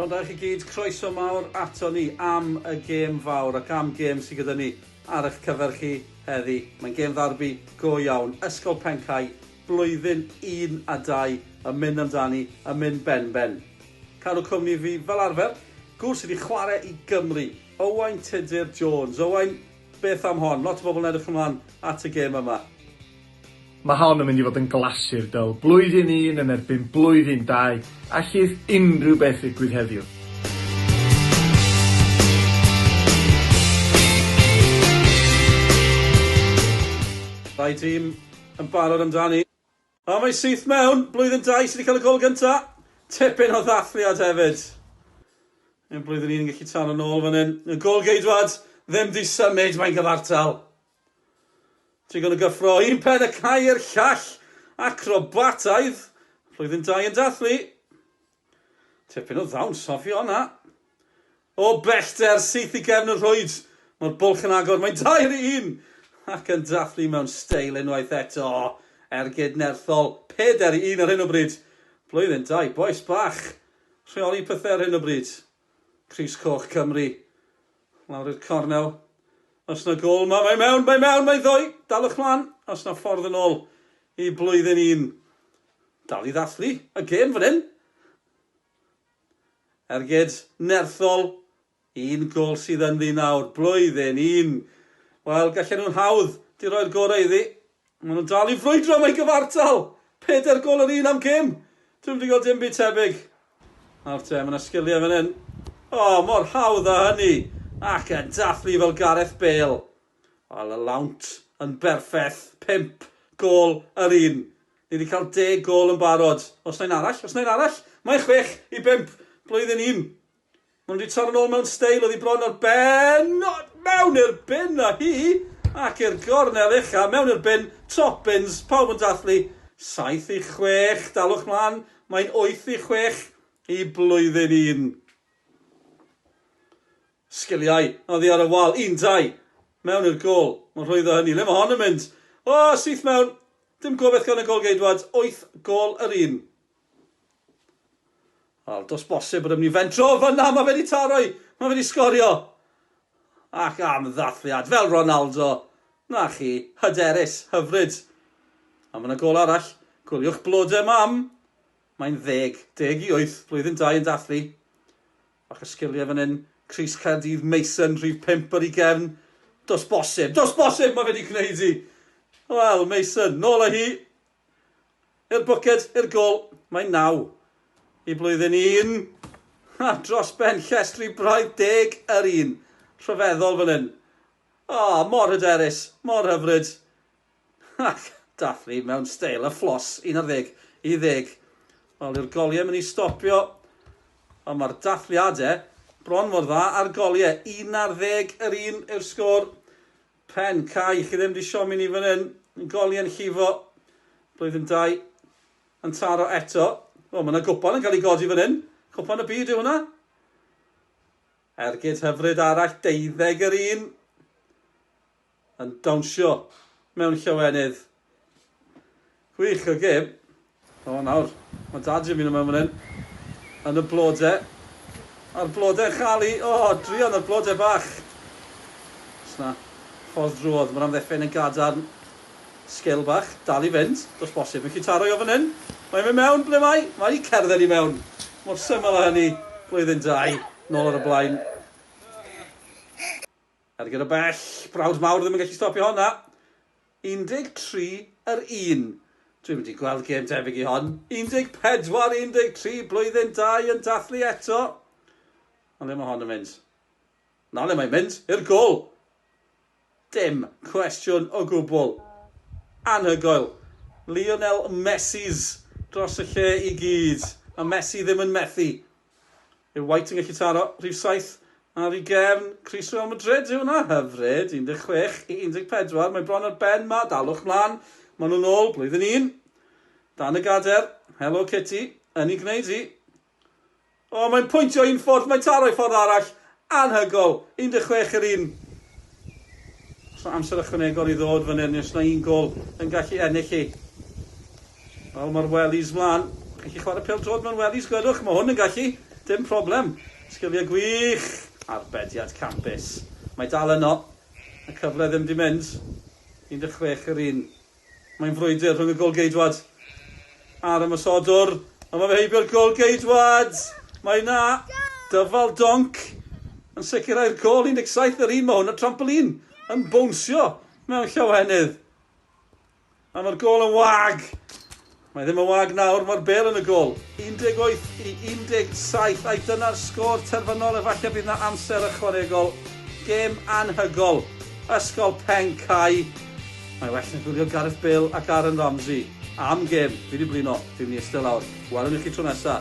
Rhondda chi gyd, croeso mawr ato ni am y gêm fawr ac am gêm sydd gyda ni ar eich cyfer chi heddi. Mae'n gêm ddarbi go iawn. Ysgol Pencau, blwyddyn 1 a 2 yn mynd amdani, yn mynd ben-ben. Cadw cwmni fi, fel arfer, gŵr sydd wedi chwarae i Gymru, Owain Tudur Jones. Owain, Beth am hon? Lot o bobl yn edrych ymlaen at y gêm yma. Mae hon yn mynd i fod yn glasur dull, blwyddyn un yn erbyn blwyddyn dau, allith unrhyw beth ddigwydd heddiw. Ddau dîm yn barod amdani. A mae syth mewn, blwyddyn dau sydd wedi cael y gol gynta'. Tipyn o ddathliad hefyd. Ein blwyddyn un yn gallu taro nôl fan hyn. Y gol geidwad ddim 'di symud, mae'n gyfartal. Trigon o gyffro, un pen y cae i'r llall. Acrobataidd. Blwyddyn dau yn dathlu. Tipyn o ddawns hoff i honna! O bellter, syth i gefn y rhwyd! Mae'r bwlch yn agor, mae'n dair i un! Ac yn dathlu mewn steil unwaith eto! Ergyd nerthol, pedair i un ar hyn o bryd! Blwyddyn da i bois bach! Rheoli pethau ar hyn o bryd! Crys Coch Cymru! Lawr i'r cornel. Oes 'na gôl 'ma? Mae mewn, mae mewn, mae ddoe! Dalwch mlan! Oes 'na ffordd yn ôl i blwyddyn un? Dal i ddathlu y gêm fan hyn. Ergyd nerthol. Un gôl sydd ynddi nawr. Blwyddyn un. Wel, gallen nhw'n hawdd di roi'r gorau iddi. Maen nhw'n dal i frwydro am eu cyfartal! Pedair gôl yr un am gêm! Dwi'm wedi gweld dim byd tebyg! Nawr te, mae 'na sgiliau fan hyn. O, mor hawdd â hynny! Ac yn dathlu fel Gareth Bale! Wel, y lawnt yn berffeth, pump gôl yr un! Ni wedi cael deg gôl yn barod! Oes 'na un arall? Oes 'na un arall? Mae chwech i bump! Blwyddyn un! Maen nhw wedi torro'n ôl mewn steil oddi bron ar ben, mewn i'r bin a hi, ac i'r gornel ucha, mewn i'r bin, top bins, pawb yn dathlu, 7 i 6, dalwch mlaen, mae'n 8 i 6 i blwyddyn un. Sgiliau, oddi ar y wal, un, dau, mewn i'r gol, mae'n rhwydd o hynny, le mae hon yn mynd? O, syth mewn, dim gobeth gan y golgeidwad, 8 gol yr un. Wel, dos bosib bod e'n mynd i fentro o fyna, mae fe wedi taro i, mae fe wedi sgorio. Ac am ddathliad, fel Ronaldo, na chi, hyderus, hyfryd. A mae yna gol arall, gwyliwch blode mam. Mae'n ddeg, deg i wyth, blwyddyn dau yn dathlu. Fach o sgiliau fan hyn, Cris Caerdydd, Mason, rhif pump ar ei gefn. Dos bosib, dos bosib, mae fe wedi gwneud i. Wel, Mason, nôl â hi. I'r bwced, i'r gol, mae'n naw i blwyddyn un a dros ben llestri braidd deg yr un. Rhyfeddol fan hyn. O, mor hyderus, mor hyfryd. Ac dathlu mewn steil a fflos, un ar ddeg i ddeg. Wel, yw'r goliau mynd i stopio? Ond mae'r dathliadau bron mor dda a'r goliau. Un ar ddeg yr un yw'r sgôr. Pen cau, chi ddim di siomi ni fan hyn, yn goli yn llifo, blwyddyn dau, yn taro eto, o mae yna gwpan yn cael ei godi fan hyn, cwpan y byd yw hwnna, ergyd hyfryd arall, deuddeg yr un, yn dawnsio mewn llawenydd. Gwych, y gem. O, nawr, mae Dad Jimmy yma fan hyn. Yn y blode. A'r blode yn cael ei... O, oh, druan y blode bach. Sna, ffordd drwodd. Mae'r amddefen yn gadarn. Sgil bach, dal i fynd. Dos bosib, yn citaro i o fan hyn. Mae'n mynd mewn, ble mae? Mae wedi cerdded i mewn. Mor syml o hynny. Blwyddyn dau, nôl ar y blaen. Ar gyda bell, brawd mawr ddim yn gallu stopio honna. 13 yr un. Dwi'm wedi gweld gêm debyg i hon. 14 13 blwyddyn dau yn dathlu eto. Ond le mae hon yn mynd? Na le mae'n mynd, i'r gol! Dim cwestiwn o gwbl. Anhygoel. Lionel Messi's dros y lle i gyd. A Messi ddim yn methu. Yw White yn gallu taro rhif saith ar ei gefn? Crys Real Madrid yw hwnna, hyfryd, 16 i 14, mae bron ar ben 'ma, dalwch mlan, maen nhw'n ôl, blwyddyn un. Dan y gader, helo Kitty, yn ei gwneud hi. O, mae'n pwyntio un ffordd, mae'n taro i ffordd arall, Anhygoel! 16 yr un. Os na amser ychwanegol i ddod fan hyn, os na un gol yn gallu ennill hi. Wel, mae'r wellies mlan. Chi'n gallu chwarae pêl drod mewn wellies, gwedwch. Mae hwn yn gallu. Dim problem. Sgiliau gwych. Arbediad campus. Mae dal yno. Y cyfle ddim di mynd. 16 yr un. Mae'n frwydr rhwng y golgeidwad a'r ymosodwr, ond mae fe heibio'r golgeidwad! Mae yna dyfal donc yn sicrhau'r gôl 17 yr un, mae hwn y trampolin yn bownsio mewn llawenydd. A mae'r gôl yn wag! Mae ddim yn wag nawr, mae'r bêl yn y gôl. 18 i 17 ai dyna'r sgôr terfynol efallai bydd 'na amser ychwanegol. Gêm anhygol. Ysgol Pen Cau. Mae well na gwylio Gareth Bale ac Aaron Ramsey. Am gêm. Fi di blino. Fi'n mynd i iste lawr. Welwn ni chi tro nesa.